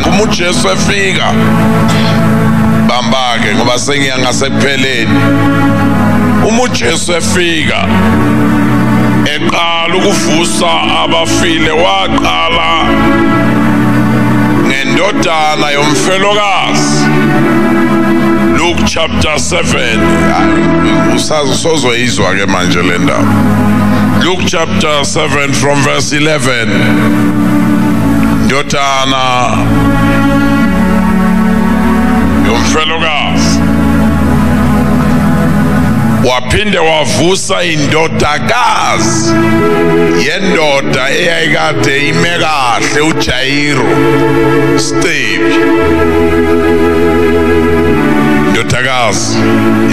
Uma uJesu efika bambake ngoba sengiya ngasekupheleni. Uma uJesu efika eqala ukuvusa abafile waqala ngendodana yomfelokazi Luke chapter 7 usazi sozoyizwa ke manje le ndaba Luke chapter 7 from verse 11 ndodana yomfelokazi waphinde wavusa indodakazi yendoda eyayikade ime kahle uJairo Stebi indodakazi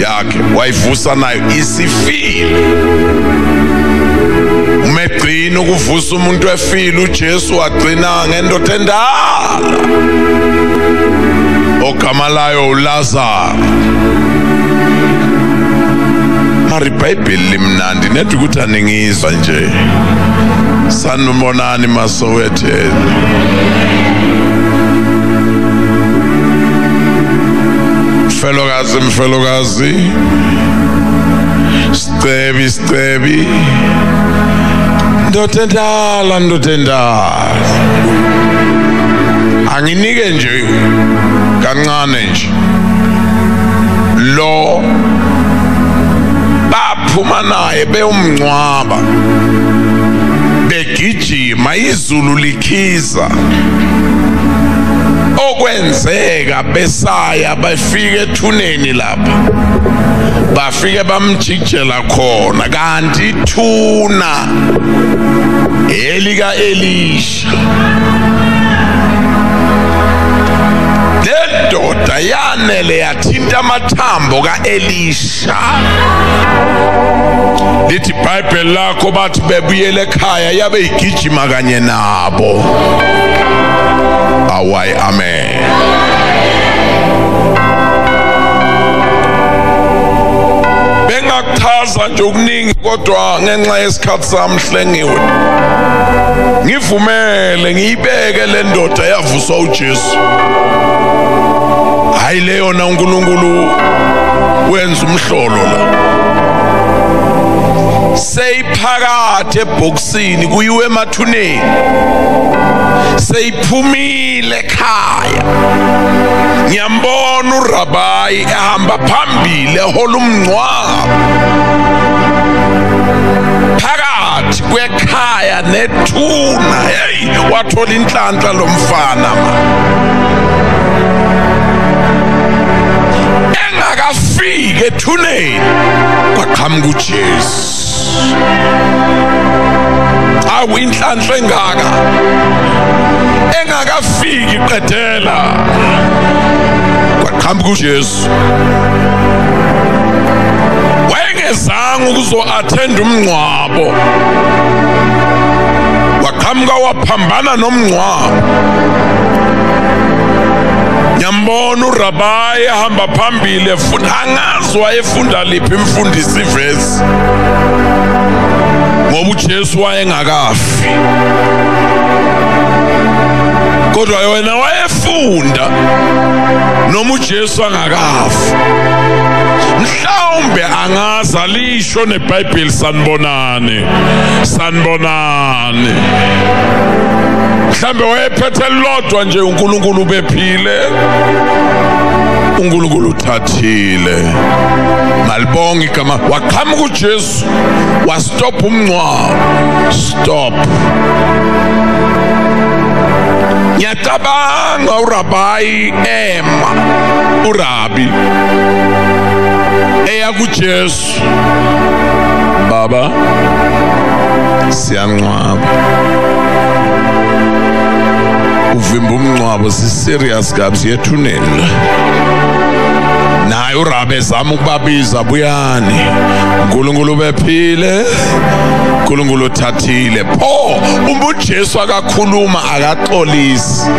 yakhe wayivusa nayo isifile Yini ukuvusa umuntu efile uJesu wagcina ngendoda endala. Ogama layo uLazaro. Mari iBhayibheli limnandi nedwa ukuthi aningizwa nje. Sanibonani masowetheni. Mfelokazi mfelokazi Sicebi sicebi ndoda endala ndoda endala anginike nje kancane nje lo baphuma naye beyomngcwaba begijima izulu likhiza okwenzeka besaya befike ethuneni la bafike bamjikjela khona kanti ithuna elika Elisha lendoda yanele yathinta amathambo kaElisha lithi bible lakho bathi bebuyele ekhaya yabe igijima kanye nabo awayi amen bengakuchaza nje okuningi kodwa ngenxa yesikhathi sami hlengiwe ngivumele ngiyibeke le ndoda yavuswa uJesu hayi le yona uNkulunkulu wenza umhlolo la seyiphakathi ebhokisini kuyiwe emathuneni seyiphumile ekhaya ngiyambona urabayi ehamba phambili ehola umngcwabo phakathi kwekhaya nethuna hey wathola inhlanhla lomfana ma engakafiki ethuneni kwaqhamuka uJesu awu inhlanhla engaka engakafiki qedela kwaqhamuka uJesu wayengezanga ukuzo-attend umngcwabo waqhamuka waphambana nomngcwabo ngiyambona urabayi ahamba phambili efuna angazi wayefunda liphi imfundisi ivezi States ngoba uJesu wayengakafi kodwa yona wayefunda noma uJesu angakafi mhlawumbe angazi alisho nebhayibheli sanibonani sanibonani mhlambe wayephethe lodwa nje uNkulunkulu bephile uNkulunkulu uthatha thile ngalibonga igama waqhamuka uJesu wastop umncwabo stop ngiyacabanga urabayi ema urabi eya kuJesu yethu baba siyancwaba uvimba umncwabo siserious kabi siyethunela naye urabe ezama ukubabiza buyani unkulunkulu bephile unkulunkulu uthathile pho uma ujesu akakhuluma akaxolisi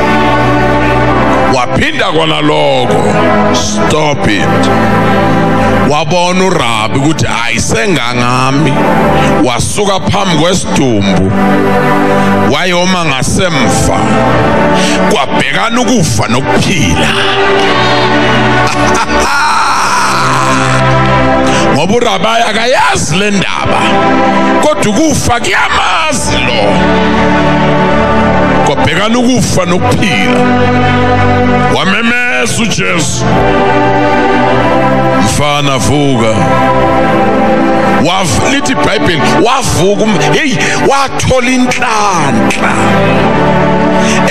waphinda kona lokho stop it wabona urabi ukuthi ayisengangami wasuka phambi kwesidumbu wayoma ngasemva kwabhekana ukufa nokuphila ngoba urabayi akayazi le ndaba kodwa ukufa kuyamazi lo kwabhekana ukufa nokuphila wamemeza Jesu. Mfana vuka. Wav lithi iBhayibheli wavuka um, hey wathola inhlanhla.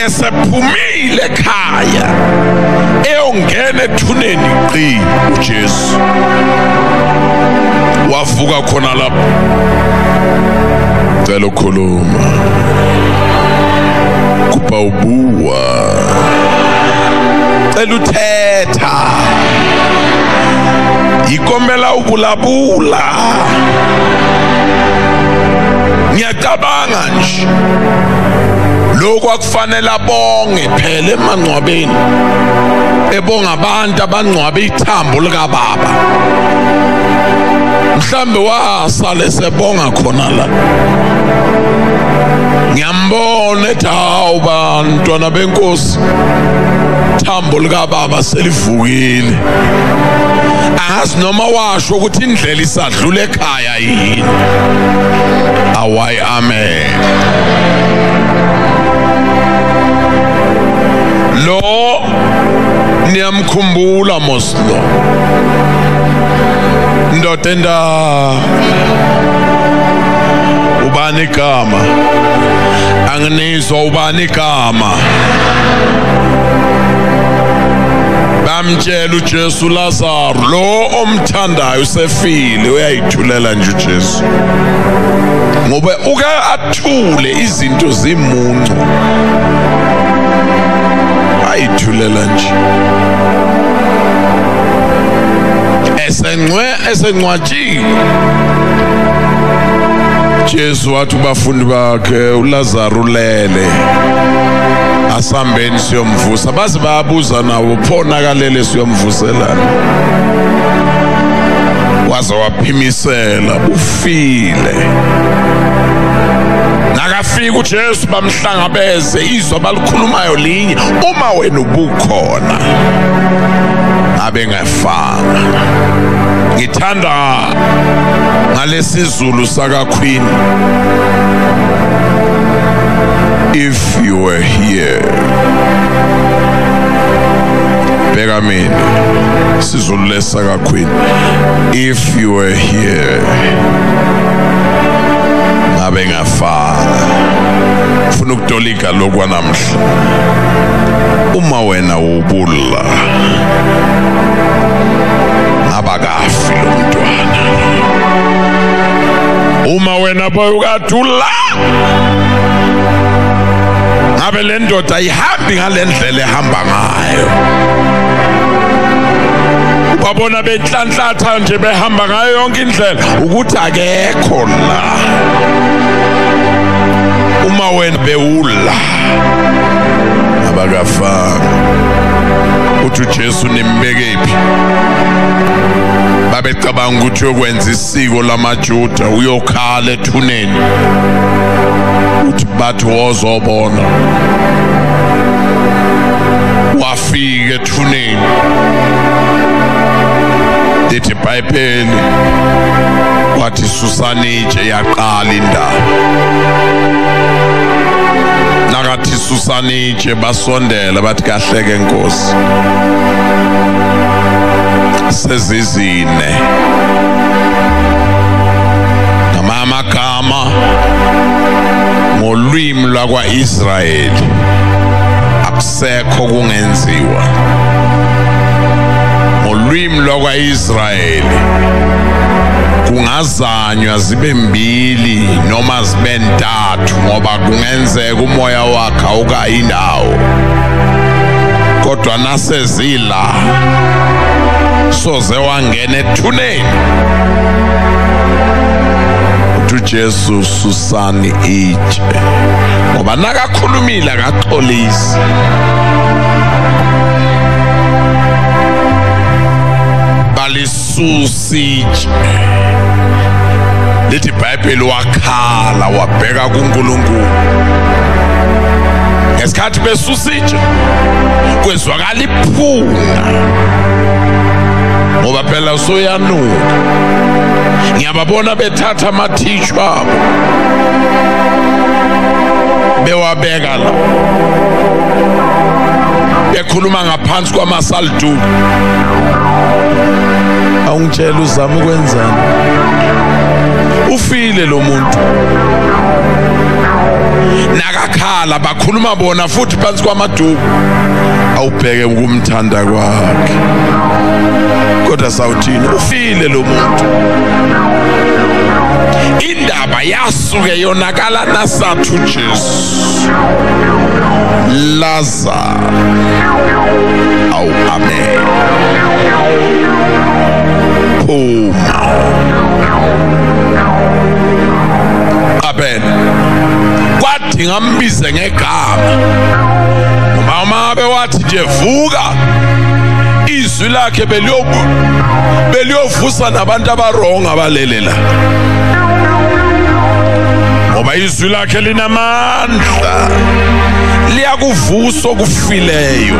Esephumile ekhaya. Eyongena ethuneni qi uJesu. Wavuka khona lapho. Cela ukhuluma. Kuba ubuwa cela uthetha yikombela ukulabula ngiyacabanga nje lokho akufanele abonge phela emangcwabeni ebonga abantu abangcwabe ithambo likababa mhlambe wasale sebonga khona la ngiyambona ethi hawu ba antwana benkosi thambo likababa selivukile angazi noma washo ukuthi indlela isadlula ekhaya yini awayi amen lo niyamkhumbula moslo ndoda enda ubani igama angine ubizwa ubani igama bamtshela uJesu Lazaro lo omthandayo usefile uyayithulela nje uJesu ngoba uke athule izinto zimuncu ayithulela nje esengcwe esencwatshile Jesu wathi kubafundi bakhe uLazaro ulele asambeni siyomvusa baze bayabuza nawo phona kalele siyomvuselana waze waphimisela ufile nakafika uJesu bamhlangabeze izwa balikhulumayo linye uma wena ubukhona abe fana ngithanda ngalesizulu saka queen if you were here bheka mina sizulu lesaka queen if you were here ngabe ngafana ufuna ukutoli Afrika lokwanamhla uma wena ubulla abakafi lo mntwana uma wena boy ukadula ngabe le ndoda ayihambi ngale ndlela ehamba ngayo babona benhlanhlatha nje behamba ngayo yonke indlela ukuthi akekho la uma wena bewula abakafanga uthi uJesu nimbekephi babecabanga ukuthi uyokwenza isiko lamaJuda uyokhala ethuneni uthi bathi wozobona wafika ethuneni lithi ibhayibheli wathi susani itshe yaqala indaba nakathi susani itshe basondela bathi kahleke nkosi sezizine ngamamagama ngolwimi lwakwa-israyeli sekho kungenziwa ngolwimi lwakwa-israyeli kungazanywa zibe mbili noma zibe ntathu ngoba kungenzeka umoya wakhe awukayi indawo kodwa nasezila soze wangena ethuneni uJesu sani itshe ngoba nakakhulumile akaxolisi balisusiche lithi ibhayibheli wakhala wabheka kuNkulunkulu ngesikhathi besusitshe kwezwakala iphunga ngoba phela soyanuka ngiyababona bethatha ama amathishwa abo bewabeka la bekhuluma ngaphansi kwamasaldu awungitshela uzama ukwenzani ufile lo muntu nakakhala bakhuluma bona futhi phansi kwamaduku awubheke ukumthanda kwakhe kodwa sawuthini ushile lo muntu indaba yasuke yonakala nasathu Jesu Lazar awu amen phuma amen kwathi ngambize ngegama uma uma bewathi nje vuka izwi lakhe beliyovusa nabantu abaronga abalele la ngoba izwi lakhe linamandla liyakuvusa okufileyo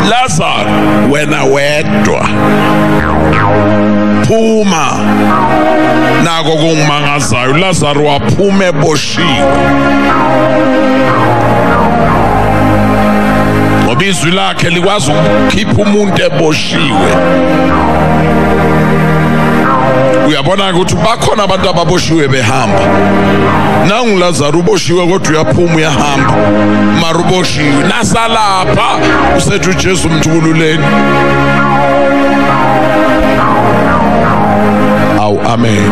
lazaro wena wedwa phuma nako kungimangazayo lazaro waphuma eboshiwe G. Ngoba izwi lakhe likwazi ukukhipha umuntu eboshiwe. uyabona ukuthi bakhona abantu ababoshiwe behamba nangu Lazaro uboshiwe kodwa uyaphuma uyahamba mara uboshiwe nasalapha usethu Jesu umthukululeni awu amen